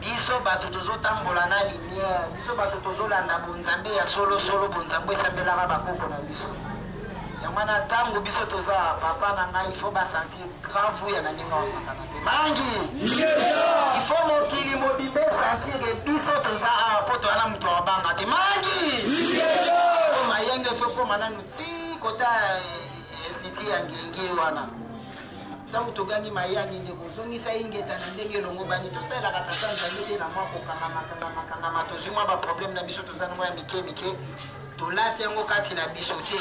biso bato tozotambola na lumière biso bato tozolanda bonzambe ya solosolo bonzambe esambelaka bakoko na biso yango wana ntango biso toza papa na ngai ifo basanti grave ya na ndenge osakana te mangi ifo mokili mobimba esantire biso toza awa mpo toya na moto abanga te mangi mayenge efo ekoma nanu ti kota esiti eh, ya ngenge wana ntango togangi mayani ndeko ozongisa ingeta na ndenge elongobani tosalelaka tata nzambe te na mwa kokangamakangamakangama tozwi mwa baproblème na biso toza na mwa ya mike mike tolati yango kati na biso te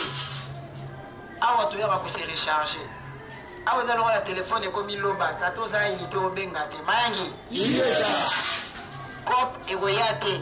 awa toyaka kose recharge awa eza lokola telefone ekomi loba tata oza yini te obenga te mayangi cop ekoya te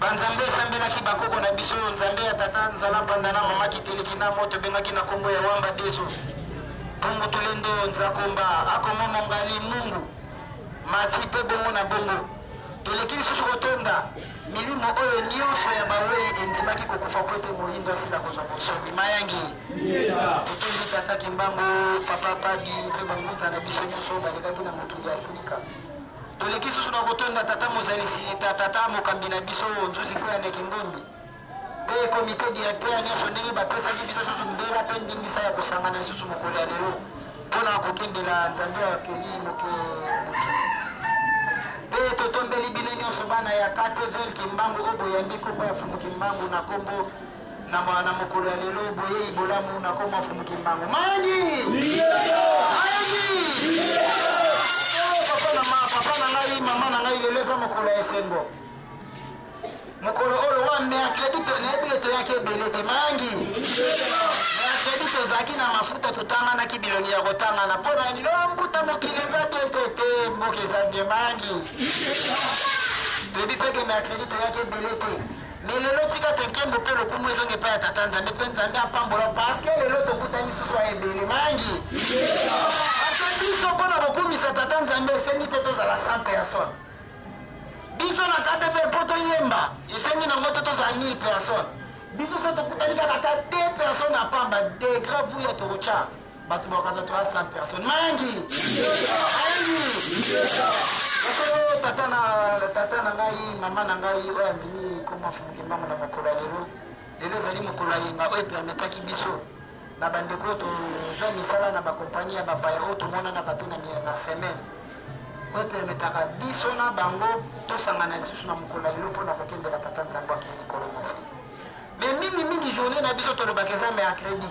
banzambe esambelaki bakoko na biso nzambe ya tata nzala mpanda na mama kiteleki na moto ebengaki na nkombo ya wamba deso bongo tulendo nzakomba akoma mongali mungu mati mpe bongo na bongo toleki lisusu kotonda milimo oyo nyonso ya bawei endimaki kokufa mpo ete moyindo asila kozwa bonsomi mayangi totondi tata kimbangu papa padi mpe bangunza na biso nyonso balekaki na mokili ya afrika Toleki lisusu na kotonda tata mozalisi ta tata mokambi na biso nzuzi koya na kingombi mpe komite directeur nyonso ndenge bapesaki biso susu mbela mpe ndingisa ya kosangana lisusu mokolo ya lelo mpo na kokendela nzambe ya keli moke mpe totombeli bino nyonso bana ya katevele kimbangu oyo boyambi kopo ya fumu kimbangu na nkombo na ma- na mokolo ya lelo boyei bolamu na nkombo ya mfumu kimbangu mayangi mayangi Oh, papa na ma- papa na ngai mama na ngai lelo eza mokolo ya esengo mokolo oyo wa mercredi to- nayebi yo toyaki ebele te mayangi mercredi tozalaki na mafuta totanganaki bilongi ya kotangana mpo na nini Oh, mbuta mokili eza te te te mboka eza bie mayangi toyebi mpe ke mercredi toyaki ebele te Mais lelo tika te nkembo mpe lokumu ezonga epai ya tata nzambe mpe nzambe apambola parceke lelo tokutani susu ya ebele mangi ata biso mpo na kokumisa tata nzambe esengi te tozala sans personne biso na kate mpe mpo toyemba esengi nango te tozala 1000 personne biso so tokutani kaka ata 2 personne apamba degrave uya tokotya bato bakokaza to ya 100 personne mangi ayangi tata na tata na ngai mama na ngai oyo amini koma fungi mbango na mokolo ya lelo lelo ezali mokolo ya yenga oyo epermetaki biso na bandeko oyo tozwa misala na bakompanyi ya bapaya oyo tomonana bato na miye na semaine oyo epermetaka biso na bango tosangana lisusu na mokolo ya lelo mpo na kokendela tata nzambe akei likolo na se me mingimingi journée na biso tolobaka eza mercredi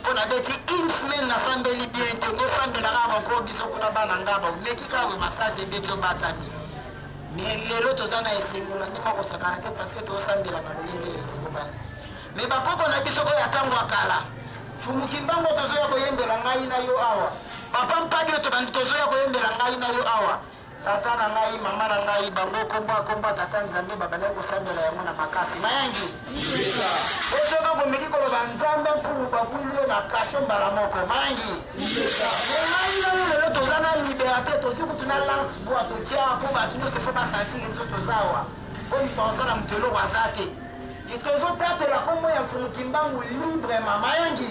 mpo nabeti une semaine nasambeli bien te kosambela kaka banko biso kuna bana ngaba oleki kaka bo masasi ebeti obatami me lelo toza na esengo na ndenge akosakana te parce que tosambela na lolenge ekokobana me bakoko na biso oyo atango ya kala fumuki mbango tozoya koyembela ngai na yo awa papa mpadi oyo tobandi tozoya koyembela ngai na yo awa Tata na ngai, mama na ngai, bango kombo akombo ya Tata Nzambe babandaki kosambela yango na makasi. Mayangi. Ozoka komeki koloba Nzambe mpumu babwili yo na kasho mbala moko. Mayangi. Ngai ngai lelo toza na liberate, tosi kutu na lance bois totya mpo bato nyonso efo basantiri biso toza awa. Mpo mipanza na moto eloko aza te. Tozotatola kombo ya mfumu Kimbangu librement. Mayangi.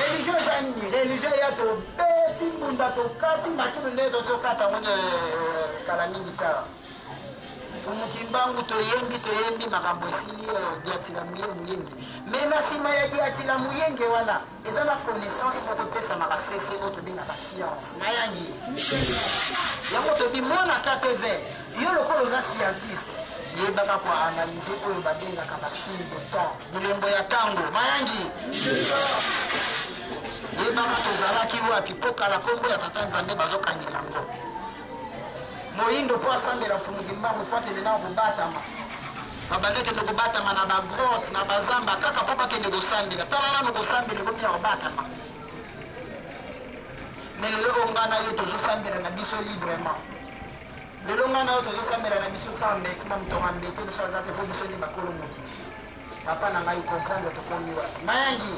Religion eza nini? Religion ya tobeti mbunda tokati makilo nde tozokata yango na euh, kala mingi kaka mokimbangu toyembi toyembi makambo esili euh, diatila moyengi me na nsima ya diatila moyenge wana eza na connaissance mpo topesamaka sese oyo tobengaka science nayangi yango tobi mwana ktv yo lokola oza scientiste yebaka koanalyse oyo babengaka basin de temps bilembo ya tango mayangi yebaka tozalaki wapi mpo kala nkombo ya tata nzambe bazokangela yango moyindo mpo asambela mpungi mbango mpo akende na kobatama babanda kende kobatama na bagrote na bazamba kaka mpo bakende kosambela tala nano kosambela ekomi ya kobatama me lelo oyo ngai na yo tozosambela na biso librement lelo ngai na yo tozosambela na biso saa mbeti na moto wa mbete biso aza te mpo biso nde bakolo mokili papa na ngai comprendre tokomi wapi mayangi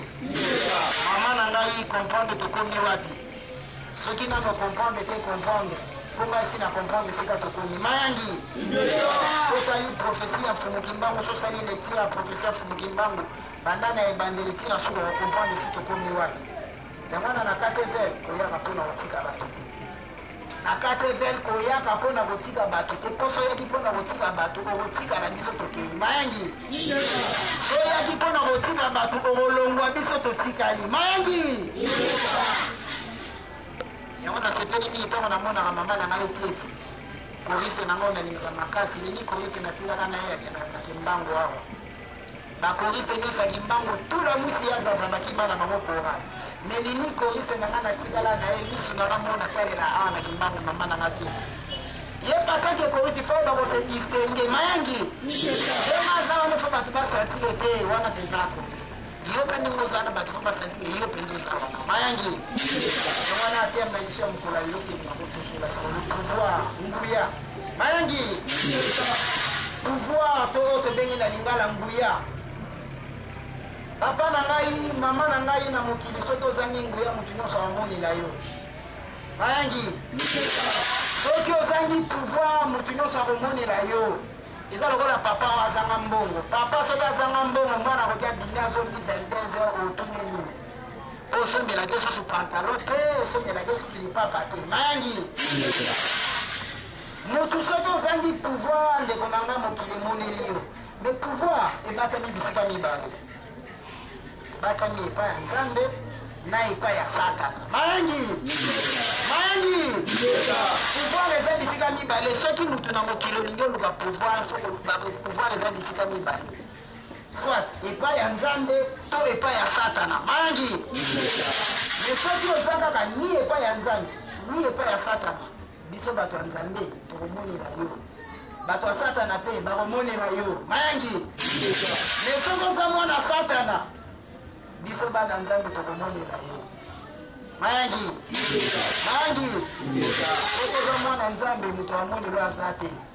mama na ngai comprendre tokomi wapi soki nano comprendre te comprendre mpo ngai si na comprendre esika tokomi mayangi sosali profesi ya mfumu kimbangu sosali lecture ya profesi ya mfumu kimbangu banda na ebandeli ntina suka ya comprendre si tokomi wapi yango wana na katv koyaka mpo na kotika bato te akate vel koyaka mpo na kotika bato te mposo oyaki mpo na kotika bato okotika na biso tokei mayangi oyaki mpo na kotika bato okolongwa biso totikali mayangi yango nasepeli mingi ntango namonaka mama na ngai tete korise nango nalingaka makasi lili korise natikaka na ye akendaka na kimbangu awa Ba choriste nionso ya Kimbangu tout la musi ya zaza bakima na bango kora. Mais nini choriste na nga na tikala na ye misu na nga mona talela awa na Kimbangu mama na nga tout. Ye papa ke choriste fo ba ko se distinguer mayangi. Ye maza wana fo batu ba sentir te wana penza ko. Yo pe ndenge oza na batu fo ba sentir yo pe ndoza wana mayangi. Wana atemba isu ya mokolo ya yo pe na kotosola sur le pouvoir nguya. mayangi pouvoir to oyo tobengi na lingala nguya papa na ngai mama na ngai na mokili soki ozangi nguya moto nyonso amoni na yo mayangi soki ozangi pouvoir moto nyonso akomonela yo eza lokola papa oyo azanga mbongo papa soki azanga mbongo mwana akoki abimi azongi 22 heures otuni nini osombelaki lisusu pantalo te osombelaki lisusu lipapa te mangi motu soki ozangi pouvoir ndeko na nga mokili emoneli yo me pouvoir ebatami bisika mibale ebatami epai ya nzambe na epai ya satana mangi mangi pouvoir eza bisika mibale soki motu na mokili olingi oluka pouvoir pouvoir eza bisika mibale soit epai ya nzambe to epai ya satana mangi me soki oza kaka ni epai ya nzambe ni epai ya satana biso bato ya nzambe tokomonela yo bato ya satana mpe bakomonela yo mangi me soki oza mwana satana biso bana nzambe tokomonela yo mangi mangi soki oza mwana nzambe moto amonela aza te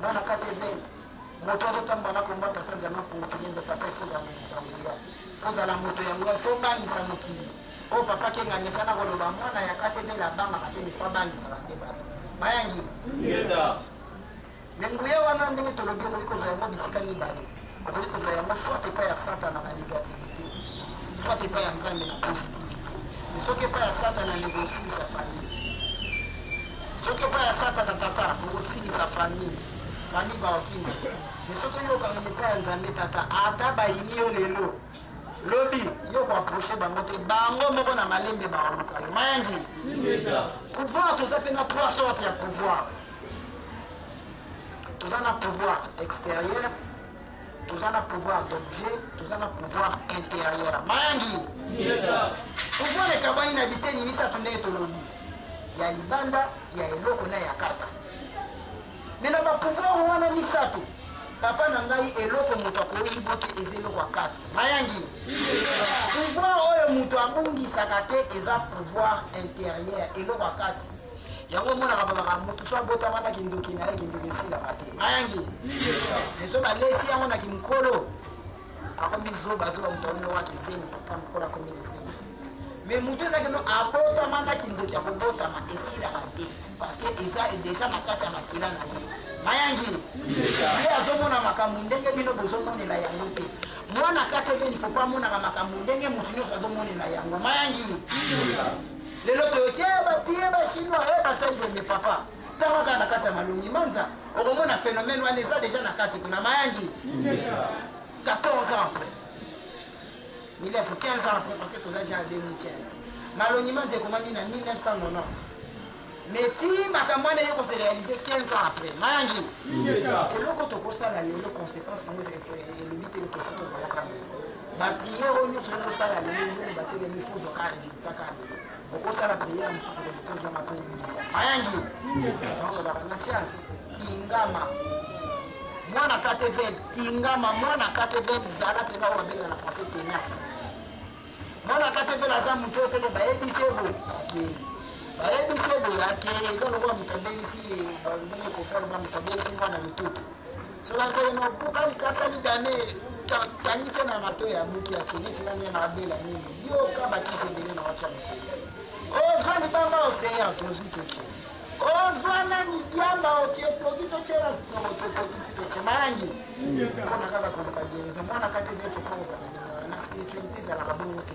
Nana kate be, moto azo tamba na komba tata nzama ko kilendo papa ifo za moto ya nguya. Ko za la moto ya nguya, fo bangi sa mokili. O oh, papa ke ngane sana ko loba mwana ya kate be la banga kate be fa bangi sa kate ba. Mayangi. Yeda. Nenguya wana ndenge tolobi ko liko za yango bisika ni bale. Okoki kozwa yango soit epai ya Satana na negativite, soit epai ya Nzambe na positivite. Mais soki epai ya Satana ndeko osilisa famille. Soki epai ya Satana tata okosilisa famille. Famille baokima. Mais soki oyokana epai ya Nzambe tata ata bayini yo lelo lobi yo koaproche bango te bango moko na malembe baoluka yo mayangi pouvoir toza mpe na trois sorte ya pouvoir toza na pouvoir extérieur toza na pouvoir d'objet toza na pouvoir intérieur mayangi pouvoir ekabani na biteni misato ndenge tolobi ya libanda ya eloko na ya kati me na bapouvoir wana misato papa na ngai eloko moto akoyibo te eza eloko ya kati mayangi pouvoir oyo moto abungisaka te eza pouvoir intérieur eloko ya kati yango omonaka balaka motu so abotama na kindoki na ye kindoki esilaka te mayangi ezo balesi yango na kimokolo akomi zoba zoba moto akomi loka kizengi papa mokolo akomi lezengi me motu ezaki no abotama na kindoki akobotama esilaka te parce que eza deja na kati ya makila na ye mayangi ye azomona makambo ndenge bino bozomonela yango te mwana kata ebeni fo po amonaka makambo ndenge motu nyonso azomonela yango mayangi lelo toyoki eh, bapie bachinois eh, basali boye papa tanga kaka na kati ya malongi manza okomona phénomène wana eza déjà na kati kuna mayangi 14 ans après milefu 15 ans après parce que toza déjà 2015 malongi manza ekomami na 1990 mais ti makambo wana eyoko se réalise 15 ans après mayangi eloko tokosala lelo conséquence yango elobi te lokofuta ozalaka ba prière oyo nyonso nde osala lelo nini batelemi fuzo kaka résultat kaka lelo okosala prière mosusu kotoza makoyebisa mayangi nakolaka na sianse tingama mwana katevel tingama mwana katevel zala mpenza oyo babenga na français tenace mwana katevel aza moto oyo pene bayebisi ebo akei bayebisi ebo akei eza lokola moto abelisi ndenge kofalma moto abelisi mwana mitutu Solakele na kuka likasa lidame tangisa na mato ya mutu ya keliti na mena abela nini yoka bakisi ebele na wacha mokili ozwa libanga oseya tozwi toki ozwa na midiamba otie tokisi otyela tokisi totie mayangi mpona kaka koluka gereza mwana kati nde fokokozala na spiritualité ezalaka bongo te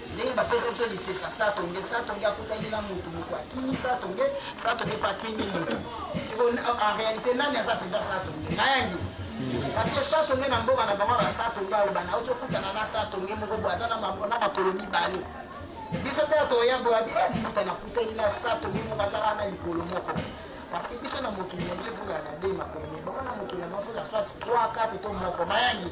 ndenge bapesa biso lisesa satonge satonge akutaki na motu motu akimi satonge satonge mpe akimi motu siko en réalité nani aza mpenza satonge nayangi parceke satonge na mboka na bango basatonge aloba na okokutana na satonge moko boye aza na makolo mibale biso mpe atoya boye abi emuta nakutani na satonge moko azaka na likolo moko parce que biso na mokili na biso foka na de makolo mibongo na mokili na biso ya soit 3 4 to moko mayangi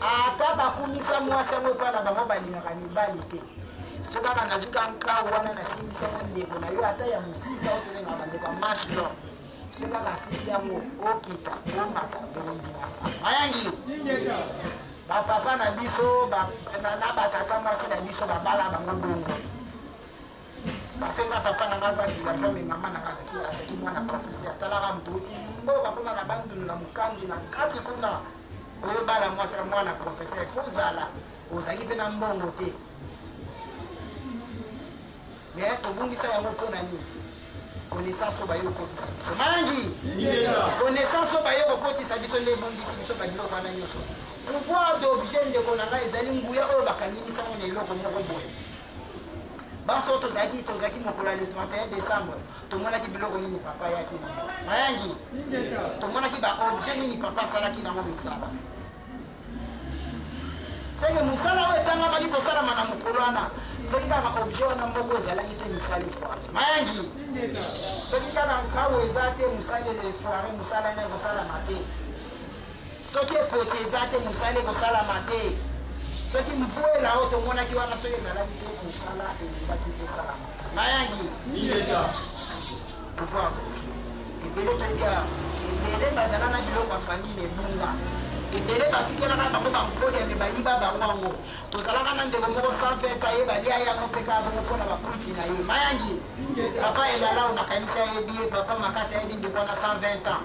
ata bakumisa mwasi yango epai na bango balingaka mibali te so kaka nazwi ka nkau wana nasimbisa yango ndeko na yo ata ya mosika otolenga bandeko ya marche lor so kaka asimbi yango okita omata bondima mayangi bapapa na biso na batata mwasi na biso babala bango bongo nasenga papa na nga aza villageois me mama na nga azalaki azalaki mwana profese atalaka mbuti oyo bakoma na bandundu na mokangi na kati kuna oyebala mwasi na mwana profese fo ozala ozalaki mpe na mbongo te me tobungisa yango mpo na nini connaissance oyo baye kokotisa biso mangi connaissance oyo baye kokotisa biso nde ebungisi biso babiloko wana nyonso pouvoir d'objet ndeko na ngai ezali nguya oyo bakanimisango na eloko moko boye banso oyo tozalaki tozalaki mokolo ya le 31 décembre tomonaki biloko nini papa ayaki na mayangi tomonaki baobjet nini papa asalaki nango mosala seke mosala oyo etangamaki kosalama na mokolo wana soki kaka objet wana mboko ezalaki te mosali foire mayangi soki kaka nkau eza te mosali foire mosala ena ekosalama te soki ekoti eza te mosala ekosalama te soki mvua elao tomonaki wana soki ezalaki te mosala elobaki esalama mayangi niyeta pouvoir ebele toya ebele bazala na biloko ya famille ebunga ebele batikelaka bango bankoli yame bayiba bango yango tozalaka na ndeko moko sanfeta ye balia yango mpe kaka bongo mpona bakulti na ye mayangi papa elalao nakanisi ayebi ye papa makasi ayebi ndeko wana 120 ans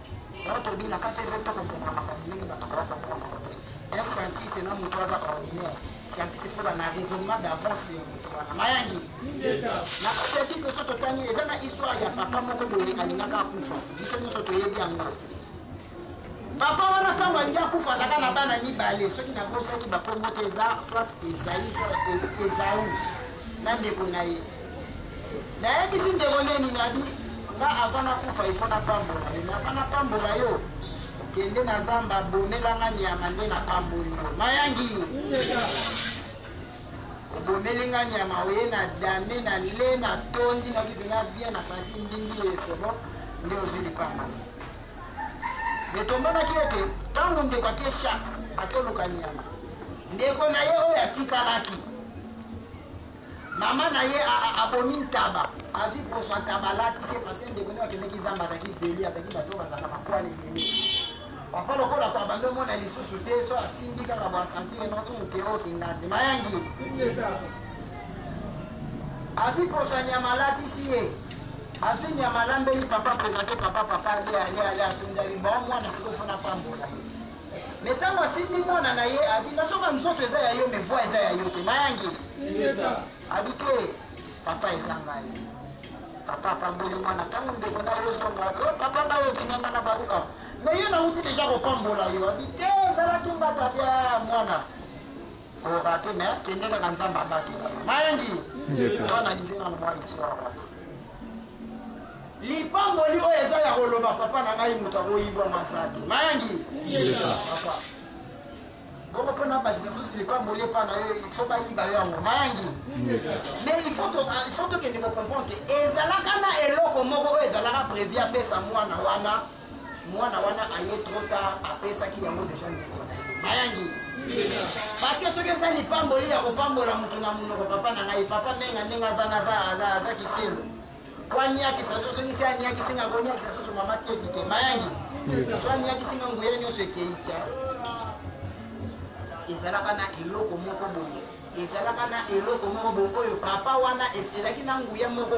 Yango tolobi na kati ete tokokokana makambo ndenge bato bakoka kokokana yango te. Un scientiste na moto aza ordinaire. Scientiste mpo na raisonnement d'avance ya moto wana. Mayangi. Na kati ya bible so totangi eza na histoire ya papa moko boye alingaka akufa. Biso nyonso toyebi yango. Papa wana ntango alingi akufa azalaka na bana mibale soki nabosaki bakombo te eza soit ezai ezau na ndeko na ye nayebisi ndeko neni nabi nga ava nakufa ifo napambola yo ava napambola yo kende na zamba bomela nga nyama nde napamboli yo mayangi obomeli nga nyama oye na dame na le na tondi na bibi na bien na santi mbingi esebo nde ozwi lipamba me tomonaki ete ntango ndeko ake chasse akoluka nyama ndeko na ye oyo atikalaki mama na ye abomi ntaba azwi poso ntaba alati se parce que ndeko nde akendeki zamba azalaki veli azalaki bato bazalaka bakwale ebele papa lokola to abandi omona lisusu te so asimbi kaka boasantire noke okenga te mayangi azwi poso ya nyama alatisi ye azwi nyama alambeli papa prezante papa papa ale ale ale atundali bon mwana sikoyo fona pambola ye mais ntango asimbi mwana na ye abi nazoka nzoto eza ya yo mais voi eza ya yo te mayangi abi te papa eza ngai papa apamboli mwana ntango ndeko na yo zonga o oh, papa bayo kinanga na baluka mais yo nauti deja kopambola yo abi te ezalaki mbata bya mwana koloba te mais kende kaka nzambe abatela mayangi to analyse nano mwa histoire wana lipamboli oyo eza ya koloba papa na ngai moto akoyibwa masaki mayangi papa bongo mpo nabakisa susu lipamboli epa na yo ifo bayiba yo yango mayangi mais ifo tokende kocomprendre ke ezalaka na eloko moko oyo ezalaka previ apesa mwana wana mwana wana aye trop tard apesaki yango deja ndeko na ye bayangi parceke soki eza lipamboli ya kopambola moto na monoko papa na ngai papa menga ndenge aza aza kisimbo po aniakisa so soki se aniakisi nga koniakisa susu mama tieti te bayangi so aniakisi nga nguyele nyonso ekei te ezalaka na eloko moko boye ezalaka na eloko moko boye oyo papa wana ezalaki na nguya moko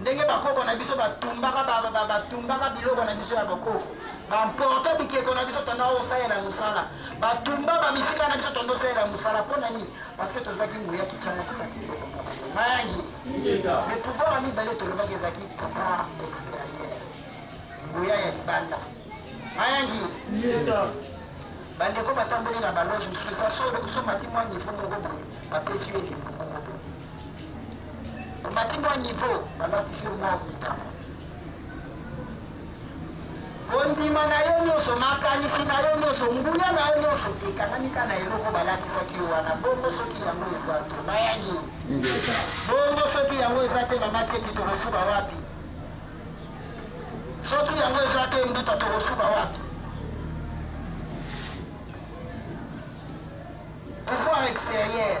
ndenge bakoko na biso batumbaka batumbaka biloko na biso ya bokoko bamporte bikeko na biso tonda osalela mosala batumba bamisika na biso tonda osalela mosala mpo na nini parceke tozwaki nguya kityana kati mayangi le pouvoir ya mibale tolobaki ezalaki pouvoir extérieur nguya ya libanda mayangi bandeko batamboli na baloge mosusu eza solo kusomati mwa nivo moko boye bapesi yo elembo omati mwa niveau balatisi mwa mitano kondima na yo nyonso makanisi na yo nyonso nguya na yo nyonso ekanami ka na eloko balatisaki yo wana bongo soki yango eza to nayangi bongo soki yango eza te mama teti tokosuka wapi soki yango eza te mbuta tokosuka wapi pouvoir extérieur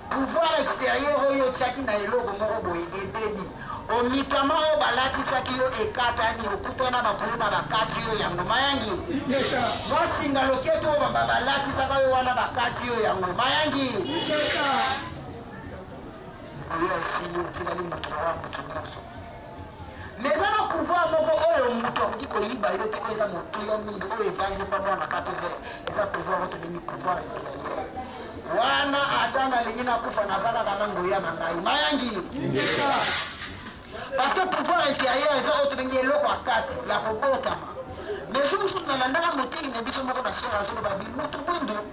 Pouvoir exterieur oyo otyaki na eloko moko boye ebebi. Omikama oyo balatisaki yo ekatani, okutana bakuluba bakati yo yango mayangi. Mwasinga loketo oyo bamba balatisaka yo wana bakati yo yango mayangi. Oyo esili otikali moto wa moto nyonso. mais eza na pouvoir moko oyo moto akoki koyiba yo te oyo eza motuya mingi oyo evangi mpa mwana kato vert eza pouvoir oyo tobengi pouvoir impérieur wana ata nalingi nakufa naza kaka na nguya na ngai mayangi parce que pouvoir intérieur eza oyo tobengi eloko ya kati ya kobotama mais jour mosusu nalandaka moteyi na biso moko na fiere azoloba bimutu mwindo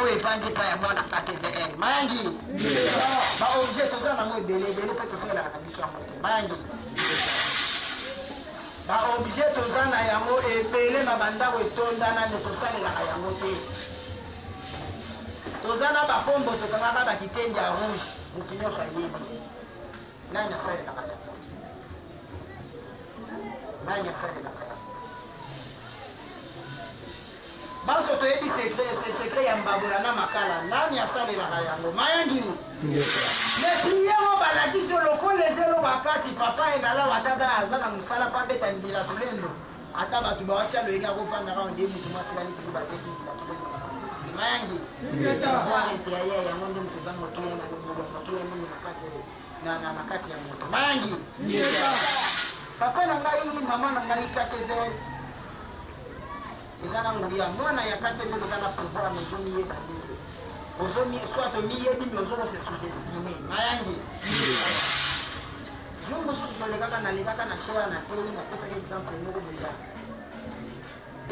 oyo evandi epai ya mwana ktvl mayangi baobjet toza nango ebele ebele mpe tosalelaka na biso yango te mayangi baobjet toza na yango ebele na bandako etonda nano tosalelaka yango te toza na bapombo tokangaka bakitenge ya rouge motu nyonso ayebi nani asalelaka yango nani asalelaka Banso toyebi secret, c'est secret ya mbabola na makala. Nani asalelaka yango? Mayangi. Me priye mo balakisi yo lokola ezelo bakati papa enala wataza aza na mosala mpo abeta mbila tolendo. Ata bato bawatya loyenge akofanda kaka nde moto mwatikali kutu babeti mbila tolendo. Mayangi. Ingeta. Yango nde moto eza motuya na lokola motuya mingi na kati ya na na na kati ya moto mayangi papa na ngai mama na ngai kateve eza na nguya mwana ya kateve eza na pouvoir mozomiyeba mingi ozomi soit omiyebi mi ozoko se sous-estime mayangi jour mosusu tolekaka nalekaka na shea na tei napesaki exemple moko boya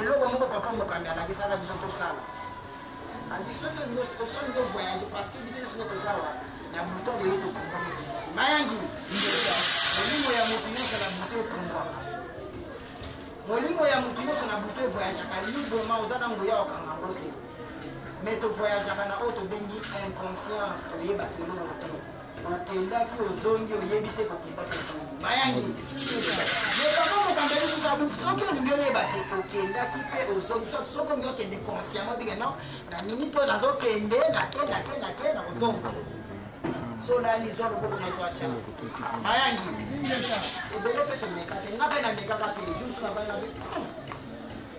eloko moko papa mokambi alakisaka biso tosala andi soki osoni to voyage parce que biso nyonso toza wa na buto boye tokomami mayangi molimo ya moto nyonso na buto ekomwaka molimo ya moto nyonso na buto evoyageaka librement oza na nguya okanga yango te mais tovoyageaka na oyo tobengi inconscience toyebaka eloko te okendaki ozongi oyebi te kokendaki ozongi mayangi yebaka mokambo elisukabu soki olingi oyeba te okendaki mpe ozongi soki soki olingi okende consciemment obike non na minute oyo nazokende nake nake nake na kozonga solani zwa lokobo na twata mayangi ebele mpe tomeka te nga mpe namekaka te jour soki abanga mpe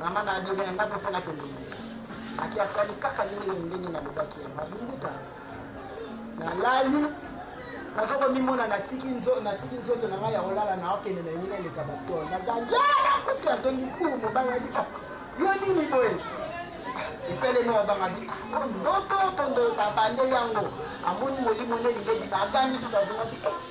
Mama na adele ya ndako fana pembeni aki asali kaka ndenge ndenge nalobaki ya babinguta nalali naza komimona natiki nzoto na ngai ya kolala na okende na yina eleka batol nagayala kofi azongi ku mobali abi ah, yo nini boye esalemi abangaki ah, ndoto tondo abandeli yango amoni molimo nde libebita agangi soki azongaki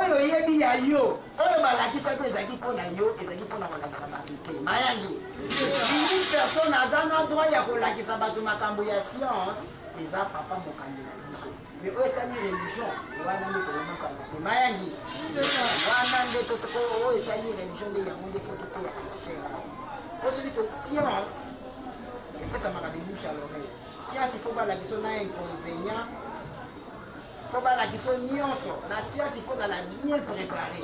oyo oyebi ya yo oyo balakisa mpe ezalaki mpo na yo ezalaki mpo na kolakisa bato te mayangi ini personne aza na droit ya kolakisa bato makambo ya science eza papa mokambi na biso me oyo etali religion wana nde tokomokanga te mayangi wana nde oyo etali religion nde yango nde fo toteya na shere mpo soki to science epesamaka de bouche à l'oreille siansi fo balakisa na inconvénient fo balakisa nyonso na siansi fo ozala bien préparé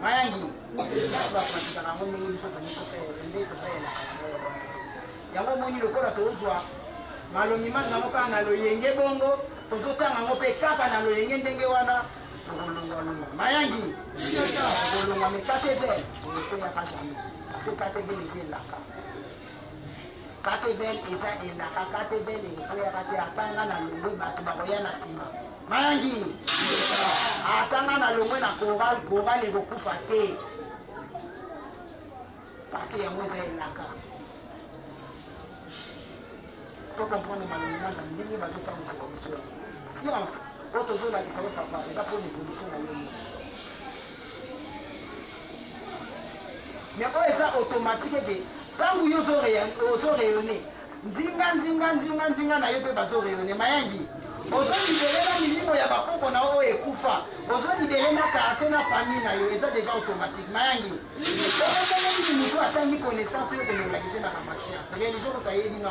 mayangi kasi bapratikaka yango ndenge biso tokosalela nde tosalelaka yango omoni lokola tozwa malomi mangi yango kaka na loyenge bongo tozotanga yango mpe kaka na loyenge ndenge wana tokolongwalongwa mayangi tokolongwa mekatebe ekoyaka jamai parce que katebe eza elaka katebel eza elaka katebel ekoyaka te atanga na longwe bato bakoya na nsima mayangi atanga na longwe na koral koral ekokufa te parceke yango eza elaka to comprendre malonga na ndenge bazotangisa komisio science oyo tozolakisa yo papa eza mpo na evolution na yo mais oyo eza automatique ete ntango yo ozo rayonne nzinga nzinga nzinga nzinga na yo mpe bazo rayonne mayangi ozolibele na milimo ya bakoko na oyo ekufa ozolibele na quartier na famille na yo eza déjà automatique mayangi okoteleli motu atangi connaissance oyo kolobakise bana masiance religion moto ayebi na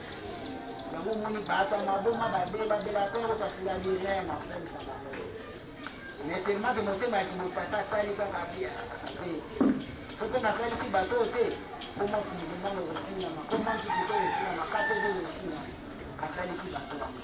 yango omoni bato ya maboma babe babela mpe yango kasi ya lilin na kosalisa bango mais tellement ke motema ya kimopata atali kaka bia te soki nasalisi bato oyo te koma fundimana ekofinama koma ntutu to ekofinama kate oyo ekofinama asalisi bato yango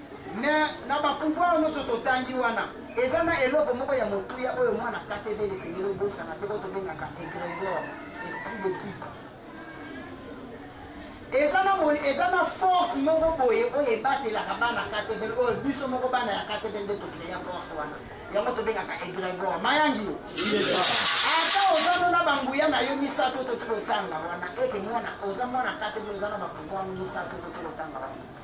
na, na bapouvoir nyonso totangi wana eza na eloko moko ya motuya oyo mwana katebele esengeli obosana mpe oyo tobengaka egregor esprit de kipe eza na moni eza na force moko boye oyo ebatelaka bana katebele oyo biso moko bana ya katebele nde tokreya force wana yango tobengaka egregor mayangi yo ata ozano na banguya na yo misato toki kotanga wana ete mwana oza mwana katebele oza na bapouvoir misato toki kotanga wana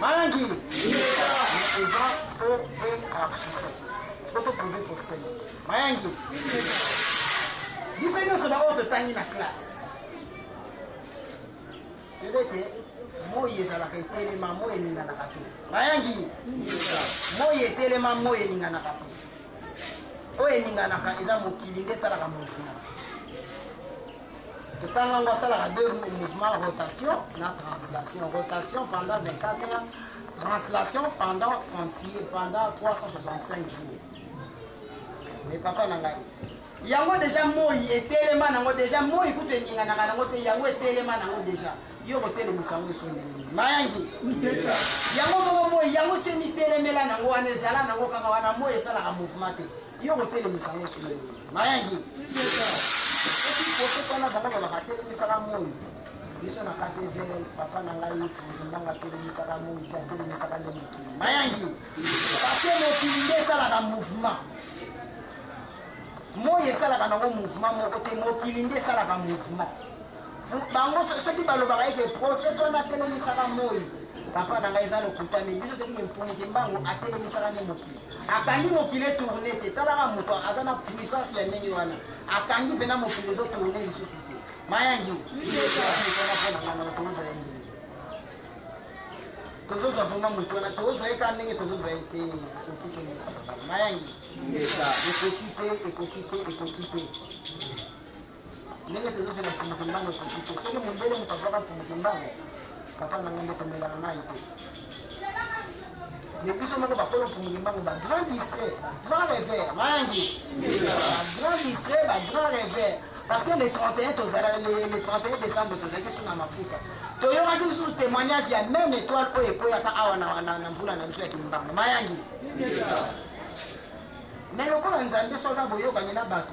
Malangi. Mayangi. Biso nyonso baoyo totangi na classe. Toyebi ete moi ezalaka etelema moi eninganaka te. Mayangi. Moi etelema moi eninganaka te. Oyo eninganaka eza mokili nde esalaka mokili. kotanga yango asalaka de mouvement rotation na translation rotation pendant 24 heures translation pendant 36 pendant 365 jours mais papa na ngai yango deja moi etelema nango deja moi kutu eninganaka nango te yango etelema nango deja yo kotelemisa yango esu ndenge mayangi yango moko moi yango se mitelemela nango wana ezala nango kaka wana moi esalaka mouvement te yo kotelemisa ngo solo nini mayangi soki kosoki wana bango balaka atelemisaka moi biso na katevel papa na ngai ndanga atelemisaka moi te atelemisaka nde mokili mayangi pase mokili nde esalaka mouvement moi esalaka nango mouvement moko te mokili nde esalaka mouvement bango soki balobaka ete profete wana atelemisaka moi papa na ngai eza lokuta mingi biso tolingi mfumu te mbango atelemisaka nde mokili akangi mokili etourne te talaka moto aza na puissance ya ndenge wana akangi mpena mokili ezotourne lisusu te mayangi tozozwa vraimen moto wana tozozwa ye ka ndenge tozozwa ye te ekoki te mayangi ekoki te ekoki te ekoki te ndenge tozozo na mfumu kimbangu ekoki te soki mondele moto azwaka mfumu kimbangu papa na ngai nde tomelaka mai te mais biso moko bakolo mfumu kimbangu bagrand distrait bagrand revers mangi bagrand distrait bagrand revers parce que le 31 tozalaki le 31 décembre tozalaki suna mafuta toyokaki lisusu témoignage ya meme étoile oyo ekweyaka awa na mvula na biso ya kimbangu mayangi mais lokola nzambe so aza boyokani na bato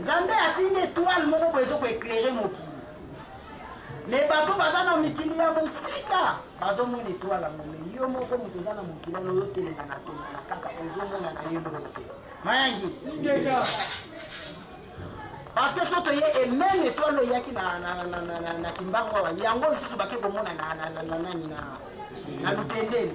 nzambe atindi etoile moko boye ezo koeklere mokili me bato baza na mikili ya mosika bazomona etoile yango me yo moko moto oza na mokili wana oyoteleka na tongana kaka ozomona na ye moko te mayangi parce que so toye ememe etoile eyaki na kimbangu awa yango lisusu bake komona na nani na lutendeli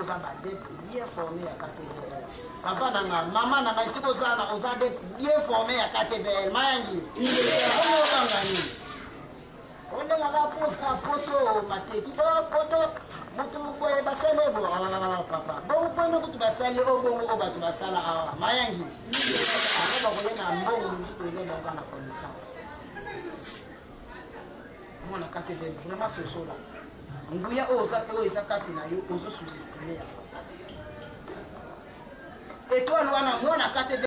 oza badet bien formé ya ktbl papa na nga mama na ngai soki oza na oza det bien formé ya ktbl mayangi obanga nini ondengaka pota poto mateki bo poto moto mokoye basali ebo papa bongo mpona kutu basali o bongo o bato basala awa mayangi aa bakoye na mbongo mosuku elelonga na connaissance mwana kateve vraiment sosola nguya oyo oza oyo eza kati na yo ozo sous-estime yango etoile wana mwana kateve